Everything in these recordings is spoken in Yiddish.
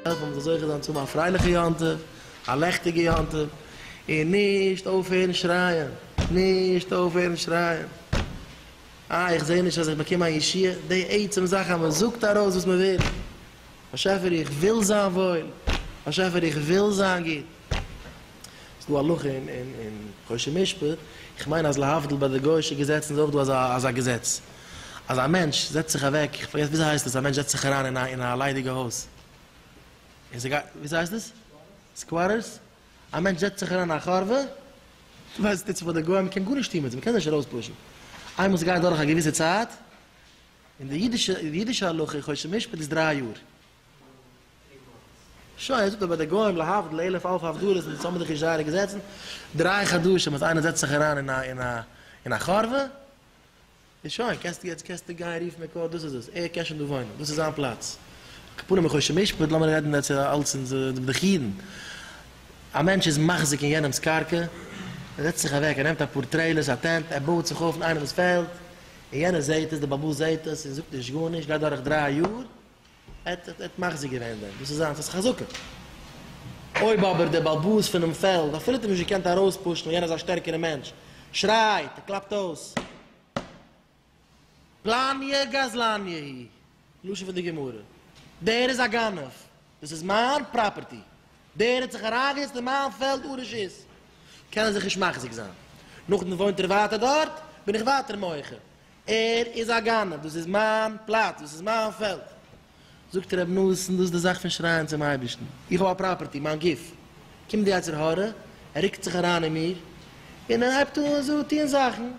העלף אז מ'זאל זוכה זיין צו האבן א פרייליכע יום טוב, א לעכטיגע יום טוב, און נישט אויפהערן שרייען, נישט אויפהערן שרייען, איי איך זעה נישט אז איך באקום א ישועה, די עצם זאך אז מ'זאגט ארויס וואס מ'וויל, באשעפער איך וויל זיין וואויל, באשעפער איך וויל זיין גוט. ס'איז דא הלכה אין חושן משפט, איך מיין אז להבדיל ביי די גוי'שע געזעצן איז אויך דא אזא געזעץ, אז א מענטש זעצט זיך אוועק, איך פארגעס וויאזוי הייסט עס, א מענטש זעצט זיך אריין אין א ליידיגע הויז, און ס'גייט, וויאזוי הייסט עס? סקוואטערס? א מענטש זעצט זיך אריין אין א חורבה, ווייסט נישט וואס די גוים, מ'קען גארנישט טון מיט זיי, מ'קען זיי נישט ארויספושן, איינמאל ס'גייט דורך א געוויסע צייט, און די אידישע הלכה אין חושן משפט איז דריי יאר. שוין, ער זאגט אז ביי די גוים להבדיל אלף אלפי הבדלות זענען עס אמתדיגע ישעיה'לע געזעצן, דריי חדשים אז איינער זעצט זיך אריין אין א אין א אין א חורבה, איז שוין, קענסטו יעצט קענסטו גיין רופן מקוה דאס איז עס, ער קען שוין דא וואוינען, דאס איז זיין פלאץ. כפרה מחושן משפט, לאמיר רעדן יעצט אלץ אין בדחי אידן. א מענטש איז מחזיק אין יענעמ'ס קרקע, ער זעצט זיך אוועק, ער נעמט אפאר טרעילערס, א טענט, ער בויעט זיך אויף אין איינעמ'ס פעלד, און יענער זעהט עס, דער בעל הבית זעהט עס און זאגט נישט גארנישט, גייט דורך דריי יאר, ער האט מחזיר געווען דעם, דאס איז זיינס, עס איז חזקה. אויב אבער דער באלבאס פונעם פעלד, אפילו האט ער נישט געקענט ארויספושן, און יענער איז א שטערקערע מענטש, שרייט, ער קלאפט אויס, פלאניע גזלניע היא, לשון פון די גמרא, דער איז א גנב, דאס איז מיין פראפערטי, דער האט זיך אריינגעזעצט אין מיין פעלד אן רשות, קען ער זיך נישט מחזיק זיין. נאכדעם וואוינט ער ווייטער דארט, בין איך ווייטער מוחה. ער איז א גנב, דאס איז מיין פלאץ, דאס איז מיין פעלד. זאגט ר' נתן, דאס איז די זאך פון שרייען צום אייבערשטן, איך האב א פראפערטי, מיין גוף, קומט די יצר הרע, ער רוקט זיך אריין אין מיר, און ער הייבט אן זאגן טון זאכן,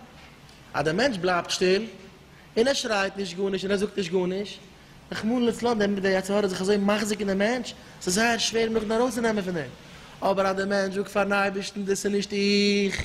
אז דער מענטש בלייבט שטיל, און ער שרייט נישט גארנישט, און ער זאגט נישט גארנישט, רחמנא לצלן, דערמיט איז דער יצר הרע זיך אזוי מחזיק אין דעם מענטש, ס'איז זייער שווער אים נאכדעם ארויסצונעמען פון דעם. אבער אז דער מענטש זאגט פארן אייבערשטן, דאס איז נישט איך,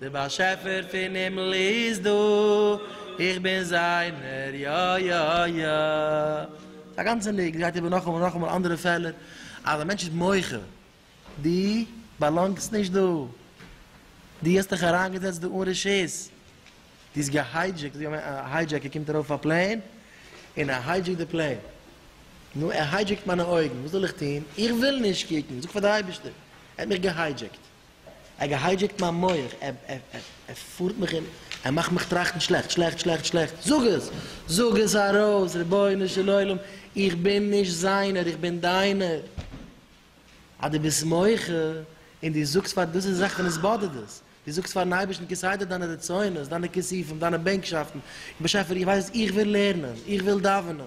דער באשעפער פון הימל איז דא, איך בין זיינער יא יא יא. ס'איז א גאנצע ניק, ס'גייט איבער נאכאמאל און נאכאמאל אנדערע פעלער, אז א מענטש איז מוחה, דו באלאנגסט נישט דא, דו האסט דיך אריינגעזעצט דא אן רשות, דו האסט געהיידזשעקט, ווי א היידזשעקער קומט ארויף אויף א פלעין און ער היידזשעקט די פלעין, נו ער היידזשעקט מיינע אויגן, וואס זאל איך טון, איך וויל נישט קוקן, זאג פאר די אייבערשטער, ער האט מיך געהיידזשעקט. ער געהיידזשעקט מיין מח, ער פארט מיך און ער מאכט מיך טראכטן שלעכט, שלעכט, שלעכט, שלעכט, זאג עס! זאג עס ארויס! רבונו של עולם, איך בין נישט זיינער, איך בין דיינער! אז דו ביסט מוחה און דו זאגסט פאר, דאס איז די זאך ווען עס באדערט דאס, דו זאגסט פאר'ן אייבערשטן כסדר דיינע רצונות, דיינע כיסופים, דיינע בענקשאפטן, באשעפער איך ווייס, איך וויל לערנען, איך וויל דאווענען,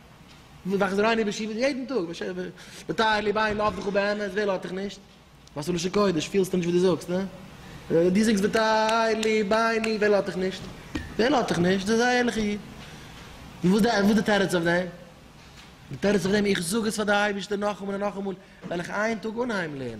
מיר דאכט זיך רייני בישיבה יעדן טאג, בטייל לי ביין לאוו דיך באמת, ווער לאוו דיך נישט? וואסע לשון קודש, פילסטו נישט וואס דו זאגסט, הא? דו זאגסט בטייל לי ביין לי, ווער לאוו דיך נישט? ווער לאוו דיך נישט? דו ביסט א ערליכע איד. וואס איז די תירוץ אויף דעם? די תירוץ אויף דעם, איך זאג עס פאר די אייבערשטער נאכאמאל און נאכאמאל, וועל איך איין טאג אנהייבן לערנען.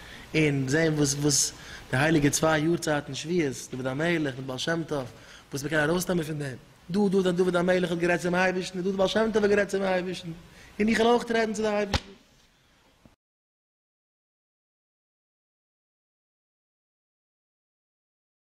און זען וואס וואס די הייליגע צוויי יארצייטן שביעות דוד המלך מיט בעל שם טוב וואס מ'קען ארויסנעמען פון דעם, דא דא דוד המלך האט גערעדט צום אייבערשטן און דא דער בעל שם טוב האט גערעדט צום אייבערשטן, און איך וועל אויך רעדן צו די אייבערשטן.